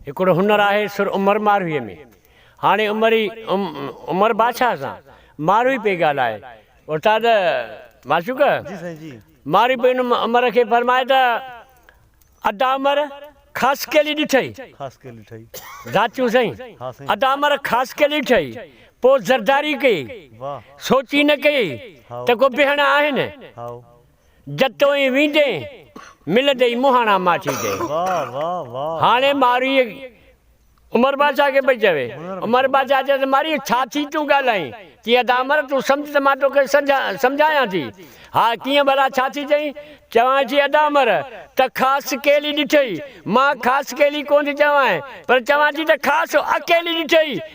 هڪڙو هنر آهي سر عمر مارويء ۾. هاڻي عمري عمر بادشاهه سان ماروي پئي ڳالهائي. استاد معشوق! جي سائين جي. ماروي پئي ان عمر کي فرمائي ته، ادا عمر خاص ڪيلي ڏٺئي؟ خاص ڪيلي ڏٺئي. ذاتيون سائين. ها سائين. ادا عمر خاص ڪيلي ڏٺئي، پوء زرداري ڪيئي. واهه. سوچي نه ڪيئي ته ڪو بهڻا آهن. هائو. جتوئين ويندين ملندئي مهاڻا ماٺي تي. هاڻي مارئي عمر بادشاهه کي پئي چوي. عمر بادشاهه چيس ته مارئي ڇا ٿي تون ڳالهائين؟ چيس ته امر تون سمجهه ته مان توکي سمجهايان ٿي. ها ڪيئن ڀلا ڇا ٿي چئين؟ چوانء ٿي ادا امر ته خاص ڪيلي ڏٺئي. مان خاص ڪيلي ڪونه ٿي چوانء پر چوان ٿي ته خاص اڪيلي ڏٺئي.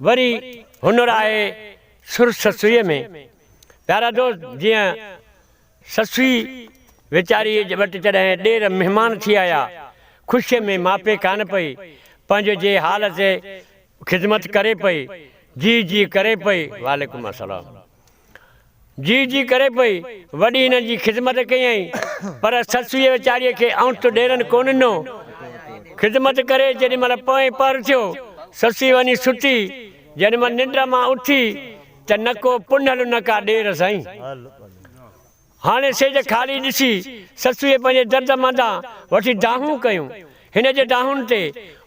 وري هنر آهي سر سسئيء ۾. پيارا دوست جيئن سسئي ويچاريء وٽ جڏهن ڏير مهمان ٿي آيا، خوشيء ۾ ماپي ڪانه پئي، پنهنجي جي حال تي خدمت ڪري پئي، جي جي ڪري پئي. وعليڪم السلام جي جي ڪري پئي، وڏي هنن جي خدمت ڪيائين، پر سسئيء ويچاريء کي اڻت ڏيرن ڪو ڏنو. خدمت ڪري جيڏي مهل پوئين پهر ٿيو، سسئي وڃي ستي، جيڏي مهل ننڊ مان اٿي ته نه ڪو پنهل نه ڪا ڏير سائين! هاڻي سيج خالي ڏسي، سسئيء پنهنجي درد منڌان وٺي دانهون ڪيون، هن جي دانهن تي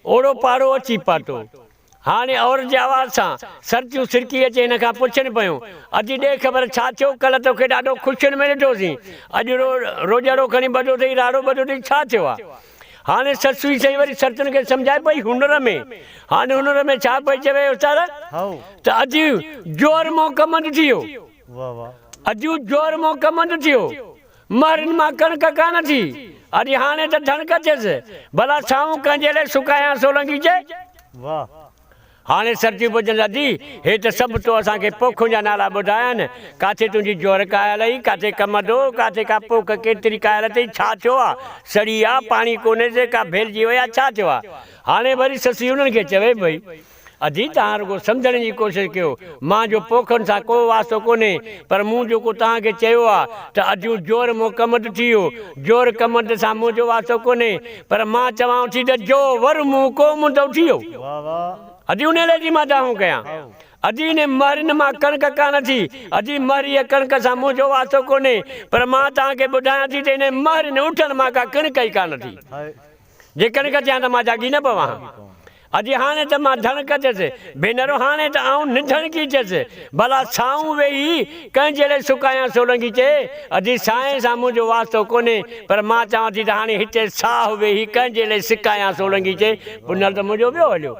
اوڙو پاڙو اچي پاتو. هاڻي عورت جي آواز سان سرتيون سرڪي اچي هن کان پڇن پيون، اچي ڏي خبر ڇا ٿيو، ڪلهه توکي ڏاڍو خوشين ۾ ڏٺوسين، اڄ رو روڄاڙو کڻي ٻڌو اٿئي، راڙو ٻڌو اٿئي، ڇا ٿيو آ؟ هاڻي سسوئي سائين وري سرتين کي سمجهائي پئي هنر ۾، هاڻي هنر ۾ ڇا پئي چوي استاد؟ ته اجيون جوهر مون کمند ٿيو، اجيون جوهر مون کمند ٿيو. مهرين مان ڪڻڪ ڪانه ٿي، اڄ هاڻي ته ڌڻڪ اچيس، ڀلا سائون ڪنهن جي لئه سڪايان سولنگي چئي. واهه! هاڻي سرتيون پڄن ادي، هي ته سڀ تو اسان کي پوکن جا نالا ٻڌايا آهن، ڪاٿي تنهنجي جوهر ڪاهيل اهي، ڪاٿي ڪم ادو، ڪاٿي ڪا پوک ڪيتري ڪاهيل اٿئي، ڇا ٿيو آ، سڙي آ، پاڻي ڪونهيس، ڪا ڀيلجي وئي آ، ڇا ٿيو آ. هاڻي وري سسئي انهن کي چوي پئي. اجي توهان رڳو سمجهڻ جي ڪوشش ڪيو، مان جو پوکن سان ڪو واسطو ڪونهي، پر مون جيڪو توهان کي چيو آ ته اجيون جور مون ڪمند ٿي ويو، جور ڪمند سان منهنجو واسطو ڪونهي، پر مان چوان ٿي ته جو ور مون ڪو مندو ٿي ويو، اجي انهي لئه جي مان دانهون ڪيان، اجي انهي مهرين مان ڪڻڪ ڪانه ٿي، اجي مهريء ڪڻڪ سان منهنجو واسطو ڪونهي، پر مان توهان کي ٻڌايان ٿي ته انهي مهرين اٺن مان ڪا ڪڻڪ ئي ڪانه ٿي. جي ڪڻڪ چيان ته مان جاڳي نه پوان ها. اجي هاڻي ته مان ڌڻڪ چيس، ڀينر هاڻي ته آئون نڌڻڪي چيس، ڀلا سائون ويهي ڪنهن جهڙي سڪايان سولنگي چي، اجي سائين سان منهنجو واسطو ڪونهي، پر مان چوان ٿي ته هاڻي هتي ساهه ويهي ڪنهن جهڙي سڪايان سولنگي چي، پنهل ته منهنجو ويو هليو.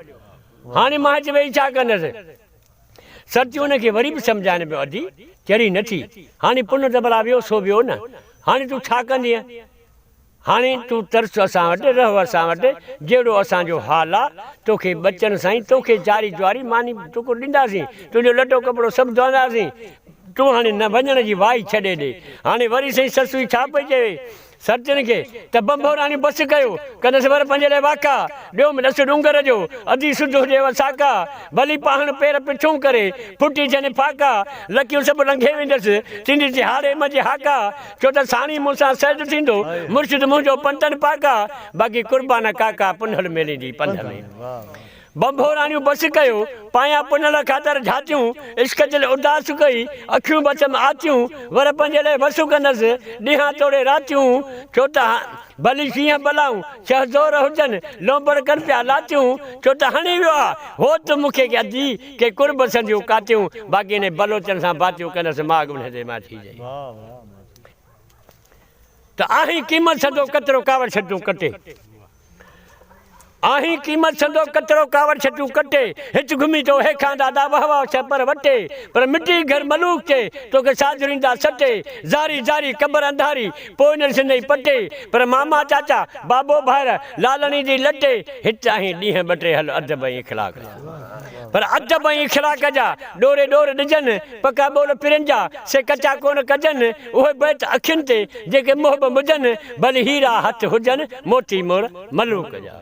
هاڻي مان هت ويهي ڇا ڪندس؟ سرتيون هن کي وري به سمجهائين پيو اجي چري نه ٿي، هاڻي پنهل ته ڀلا ويو سو ويو نه، هاڻي تون ڇا ڪندينء؟ هاڻي تون ترس اسان وٽ، رهه اسان وٽ، جهڙو اسان جو حال آ، توکي ٻچن سائين، توکي چاري چواري، ماني ٽڪر ڏينداسين، تنهنجو لٽو ڪپڙو سڀ ڌوئنداسين، تون هاڻي نه وڃڻ جي وائي ڇڏي ڏي. هاڻي وري سائين سسوئي ڇا پئي چوي سرتين کي ته ڀنڀوراڻي بس ڪيو، ڪندس ور پنهنجي لاء واڪا، ڏيو م ڏس ڏونگر جو، ادي سڌ هجيو ساڪا، ڀلي پاهڻ پير پڇون ڪري، ڦٽي ٿين ڦاڪا، لڪيون سڀ لنگهي ويندس، ٿيندي تهاڙي م جي هاڪا، ڇو ته ساڻيهه مون سان سيد ٿيندو مرشد منهنجو پنتن پاڪا باقي قربان ڪاڪا پنهل ميلي جي پنڌ ۾ ڀنڀوراڻيون بس ڪيو پايان پنهل خاطر جھاتيون عشق دل اداس ڪئي اکيون بچم آتيون ور پنهنجي لئه وسون ڪندس ڏينهان توڙي راتيون ڇو ته ڀلي شينهن بلائون ڇهه زور هجن لونبڙ ڪن پيا لاتيون ڇو ته هڻي ويو آ هوت مون کي ادي ڪي قرب سنديون ڪاتيون باقي انهي بلوچن سان باتيون ڪندس ماڳ انهي دي ماڇي جي ته آهين قيمت سندو ڪترو ڪاوڙ ڇٽون ڪٽي آهين قيمت سندو ڪترو ڪاوڙ ڇٽون ڪٽي هچ گهمي تو هي کان دادا وه وه ڇه پر وٽي پر مٽي گهر ملوڪ تي توکي ساجرين دا سٽي زاري زاري قبر انڌاري پوء نه ڏسندئي پٽي پر ماما چاچا بابو ڀائر لالڻي جي لٽي هت آهين ڏينهن ٻه ٽي هل ادب ۽ اخلاق پر ادب ۽ اخلاق جا، ڏوري ڏور ڏجن، پڪا ٻول پرين جا، سي ڪچا ڪونه ڪجن، اهي بيت اکين تي، جيڪي محب مجن، ڀلي هيرا هٿ هجن، موتي مور ملوڪ جا.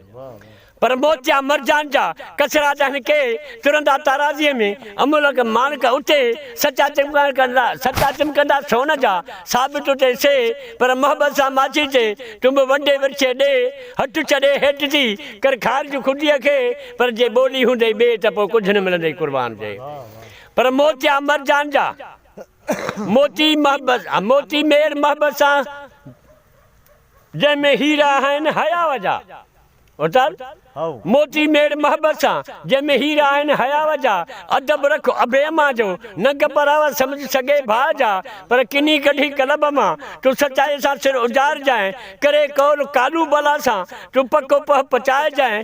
پر موتيا مرجان جا، ڪسرا دهن ڪي، ترندا تارازيء ۾، املڪ ماڻڪ اتي، سچا چمڪندا، سچا چمڪندا سون جا، ثابت اتي سي، پر محبت سان ماڇي تي، تون به ونڊي ورڇي ڏي، هٽ ڇڏي هيٽ ٿي، ڪر خارج خوديء کي، پر جي ٻولي هوندئي ٻي ته پوء ڪجهه نه ملندئي قربان جي پر موتيا مرجان جا موتي محبت موتي مير محبت سان جنهن ۾ هيرا آهن حياء جا اتر موتي مير محبت سان جنهن ۾ هيرا آهن حياء جا ادب رک اڀي امان جو ننگ پراوا سمجهه سڳي ڀاء جا پر ڪني ڪڍي قلب مان تون سچائي سان سر اجارجانء ڪري قول ڪالو بلا سان تون پڪو پهه پچائجانء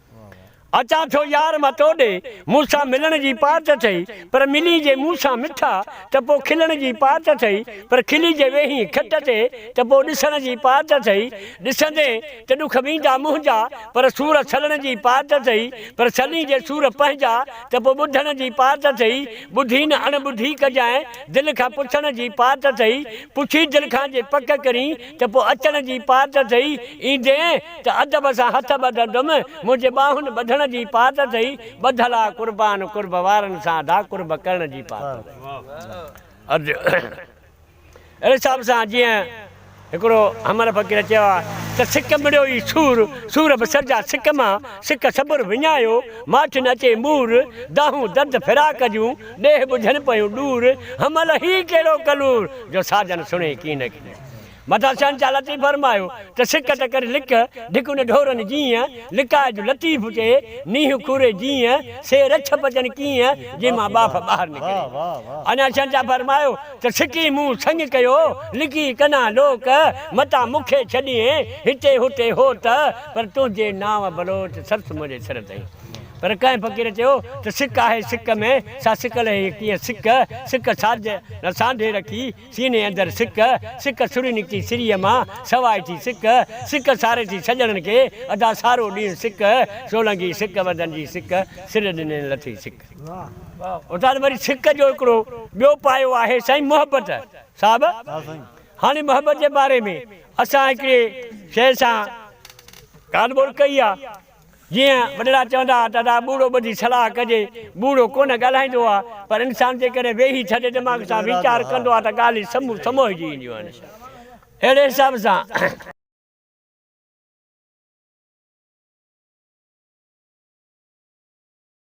اچان ٿو يار مان تو ڏي، مون سان ملڻ جي پات اٿئي، پر ملين جي مون سان مٺا، ته پوء کلڻ جي پات اٿئي، پر کلي جي ويهين کٽ تي، ته پوء ڏسڻ جي پات اٿئي، ڏسندين ته ڏک ويندا منهنجا، پر سور سلڻ جي پات اٿئي، پر سلين جي سور پنهنجا، ته پوء ٻڌڻ جي پات اٿئي، ٻڌي نه اڻ ٻڌي ڪجانء، دل کان پڇڻ جي پات اٿئي، پڇي دل کان جي پڪ ڪرين، ته پوء اچڻ جي پات اٿئي، ايندين ته ادب سان هٿ ٻڌندم، منهنجي ٻانهن ٻڌڻ جي پات اٿئي، ٻڌل آ قربان قرب وارن سان ادا قرب ڪرڻ جي پات اٿئي. عرض اهڙي حساب سان جيئن هڪڙو همر فقير چيو آ ته سڪ مڙيو ئي سور، سور به سرجا سڪ مان، سڪ صبر وڃايو، ماٺ نه اچي مور، دانهون درد فراق جون، ڏيهه ٻجهن پيون ڏور، همل هي ڪهڙو ڪلور، جو ساجن سڻي ڪين ڪين. مٿان شهنشاهه لطيف فرمايو ته سڪ ته ڪري لڪ، ڍڪن ڍورن جيئن، لڪاء جو لطيف چئي، نيهه کوري جيئن، سي رڇ پچن ڪيئن، جنهن مان ٻاڦ ٻاهر نڪري. اڃا شهنشاهه فرمايو ته سڪي مون سڱ ڪيو، لڪي ڪنان لوڪ، متان مون کي ڇڏيئين، هتي هتي هو ته، پر تنهنجي نانء بلوچ سرس منهنجي سر تئي. پر ڪنهن فقير چيو ته سڪ آهي سڪ ۾، سا سڪل هي ڪيئن سڪ، سڪ ساجهه نه سانڍي رکي، سيني اندر سڪ، سڪ سري نڪتي سريء مان، سواء ٿي سڪ، سڪ ساري ٿي سڄڻن کي، ادا سارو ڏينهن سڪ، سولنگي سڪ وندن جي سڪ، سر ڏنين لٿي سڪ. استاد وري سڪ جو هڪڙو ٻيو پايو آهي سائين محبت صاحب هاڻي محبت جي باري ۾ اسان هڪڙي شيء سان ڳالهه ٻولهه ڪئي آ. جيئن وڏڙا چوندا ها ته ادا ٻوڙو ٻڌي صلاح ڪجي، ٻوڙو ڪونه ڳالهائيندو آهي، پر انسان جيڪڏهن ويهي ٿڌي دماغ سان ويچار ڪندو آهي ته ڳالهيون سمون سموهجي اينديون آهن. اهڙي حساب سان.